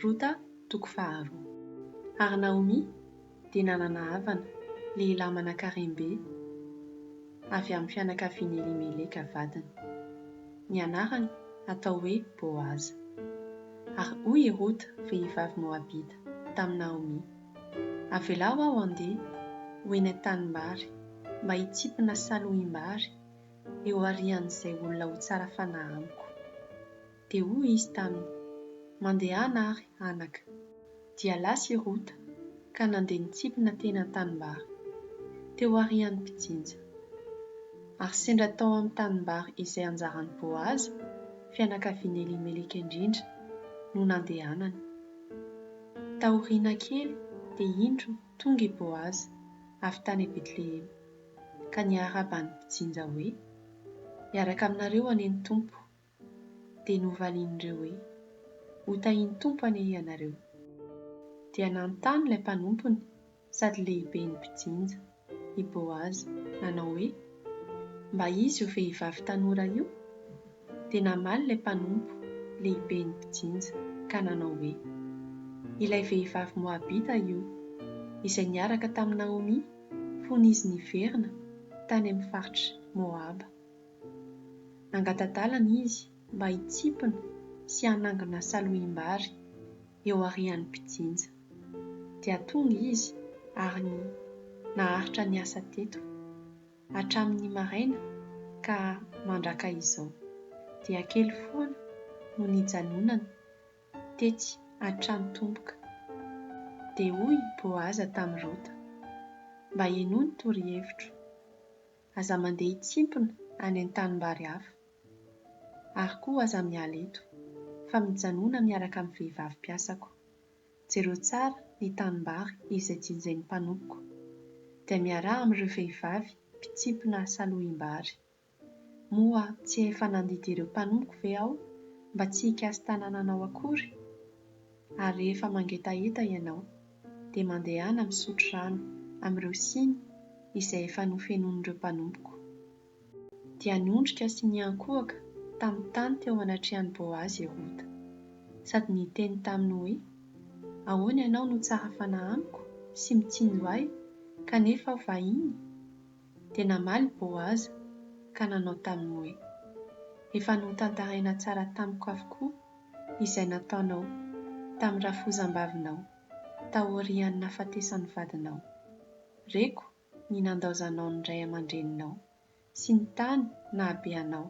Rota toko faharoa. Ary Naomy dia nanana havana, lehilahy manankarem-be, avy amin'ny fianakavian'i Elimeleka vadiny. Ny anarany atao hoe Boaza. Ary hoy i Rota, vehivavy moabita, tamin'i Naomy, Avelao aho handeha ho eny an-tanimbary mba hitsipina saloim-bary eo aorian'izay olona ho tsara fanahy amiko. Dia hoy izy taminy, Mandehana ary, anaka. Dia lasa i Rota, ka nandeha nitsipina teny an-tanimbary, teo aorian'ny mpijinja. Ary sendra tao amin'ny tanimbary izay anjaran'i Boaza, fianakavian'i Elimeleka indrindra, no nandehanany. Taoriana kely, dia indro tonga i Boaza, avy tany Betlehema, ka niarahaba ny mpijinja hoe, Miaraka aminareo anie ny Tompo. Dia novalian'ireo hoe, Ho tahian'ny Tompo anie ianareo. Dia nanontany ilay mpanompony sady lehiben'ny mpijinja, i Boaza, nanao hoe, Mba iza io vehivavy tanora io? Dia namaly ilay mpanompo, lehiben'ny mpijinja, ka nanao hoe, Ilay vehivavy Moabita io, izay niaraka tamin'i Naomy fony izy niverina tany amin'ny faritr'i Moaba. Nangata-dalana izy mba hitsimpona sy hanangona salohim-bary eo aorian'ny mpijinja. Dia tonga izy ary naharitra ny asa teto hatramin'ny maraina ka mandraka izao dia kely foana no nijanonana tetsy an-tranon-tomboka. Dia hoy i Boaza tamin'i Rota, Mba henoy ny torohevitro. Aza mandeha hitsimpona any an-tanimbary hafa. Ary koa aza miala eto, fa mijanona miaraka amin'ny vehivavy mpiasako. Jereo tsara ny tanimbary izay jinjain'ny mpanompoko, dia miaraha amin'ireo vehivavy mpitsimpona salohim-bary. Moa tsy efa nandidy ireo mpanompoko ve aho mba tsy hikasi-tanananao akory? Ary rehefa mangetaheta ianao, dia mandehana misotro rano amin'ireo siny izay efa nofenoin'ireo mpanompoko. Dia niondrika sy niankohoka tamin'ny tany teo anatrehan'i Boazy i Rota, sady niteny taminy hoe, Ahoana ianao no tsara fanahy amiko sy mitsinjo ahy, kanefa aho vahiny? Dia namaly i Boaza, ka nanao taminy hoe, Efa notantaraina tsara tamiko avokoa izay nataonao tamin'ny rafozam-bavinao taorian'ny nahafatesan'ny vadinao. Reko ny nandaozanao ny ray aman-dreninao sy ny tany nahabe anao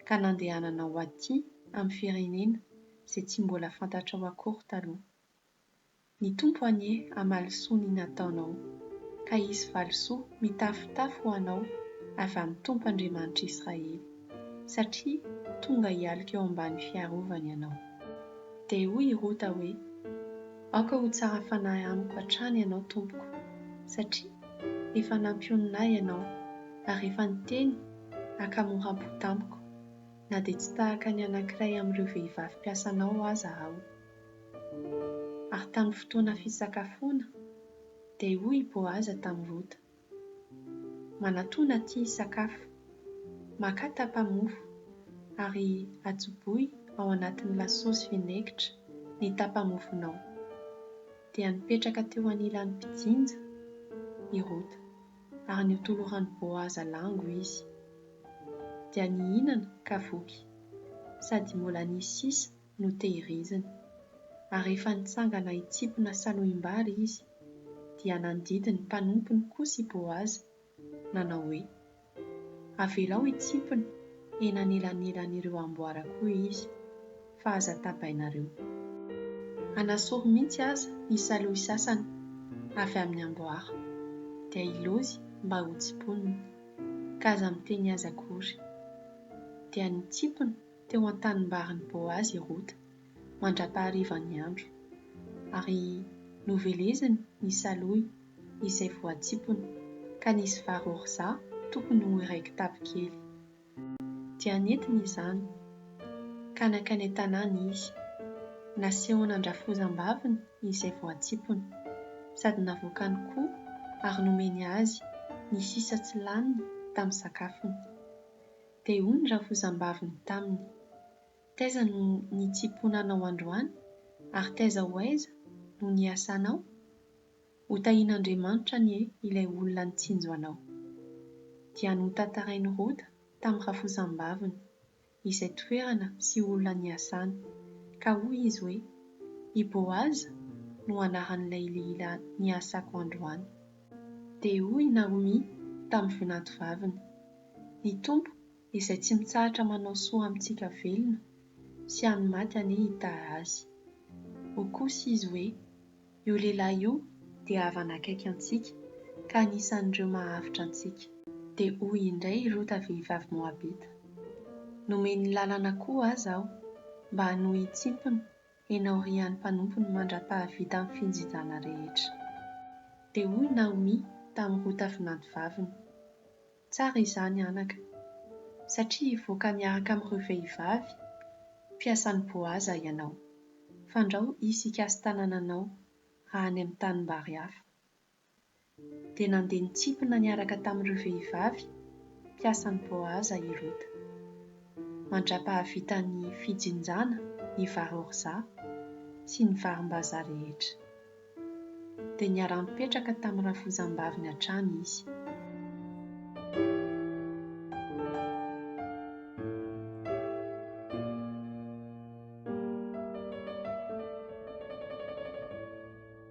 ka nandehananao ho aty amin'ny firenena izay tsy mbola fantatrao akory taloha. Ny Tompo anie hamaly soa ny nataonao. Ka hisy valisoa mitafotafo ho anao avy amin'ny Tompo Andriamanitr'Israely, satria tonga hialoka eo ambany fiarovany ianao. Dia hoy i Rota hoe, Aoka ho tsara fanahy amiko hatrany ianao tompoko, satria efa nampionona ahy ianao, ary efa niteny ankamoram-po tamiko, na dia tsy tahaka ny anankiray amin'ireo vehivavy mpiasanao aza aho. Ary tamin'ny fotoana fisakafoana, dia hoy i Boaza tamin'i Rota, Manatona atỳ hisakafo. Makà tapa-mofo, ary atsoboy ao anatin'ny lasosy vinaigitra ny tapa-mofonao. Dia nipetraka teo anilan'ny mpijinja i Rota, ary notoloran'i Boaza lango izy. Dia nihinana ka voky, sady mbola nisy sisa no tehiriziny. Ary rehefa nitsangana hitsipona salohim-bary izy, dia nandidy ny mpanompony kosa i Boaza, nanao hoe, Avelao hitsipona eny anelanelan'ireo amboara koa izy, fa aza tabainareo. Hanasory mihitsy aza ny salohy sasany avy amin'ny amboara, dia hilozy mba hotsiponina, ka aza miteny azy akory. Dia nitsipona. teo an-tanimbarin'i Boazy i Rota, mandra-paharivan'ny andro, ary noveleziny ny salohy izay voatsipony, ka nisy vary orzà tokony ho iray kitapo kely. Dia nentiny izany, ka nankany an-tanàna izy, nasehony an-drafozam-baviny izay voatsipony, sady navoakany koa ary nomeny azy ny sisa tsy laniny tamin'ny sakafony. Dia hoy ny rafozambaviny taminy, Taiza no nitsiponanao androany, ary taiza ho aiza no niasanao? Ho tahin'Andriamanitra anie ilay olona nitsinjo anao. Dia notantarain'i Rota tamin'ny rafozambaviny izay toerana sy olona niasany, ka hoy izy hoe, I Boaza no anaran'ilay lehilahy niasako androany. Dia hoy i Naomy tamin'ny vinantovaviny, Ny Tompo izay tsy mitsahatra manao soa amintsika velona sy amin'ny maty anie hita azy. Hoy kosa izy hoe, Io lehilahy io dia havana akaiky antsika ka anisan'ireo mahavitra antsika. Dia hoy indray i Rota vehivavy Moabita, Nomen'ny lalana koa aza aho mba hanohy hitsimpona Enao ry any mpanompony mandra-pahavita ny finjinjana rehetra. Dia hoy i Naomy tamin'i Rota vinantovaviny, Tsara izany, anaka, satria hivoaka miaraka amin'ireo vehivavy mpiasan'i Boaza ianao. Fandrao hisy hikasi-tanananao raha any amin'ny tanimbary hafa. dia nandeha nitsipina niaraka tamin'ireo vehivavy mpiasan'i Boaza i Rota. Mandra-pahavita ny fijinjana ny vary orza sy ny varimbazaha rehetra, dia niara-nipetraka tamin'ny rafozambaviny hatrany izy.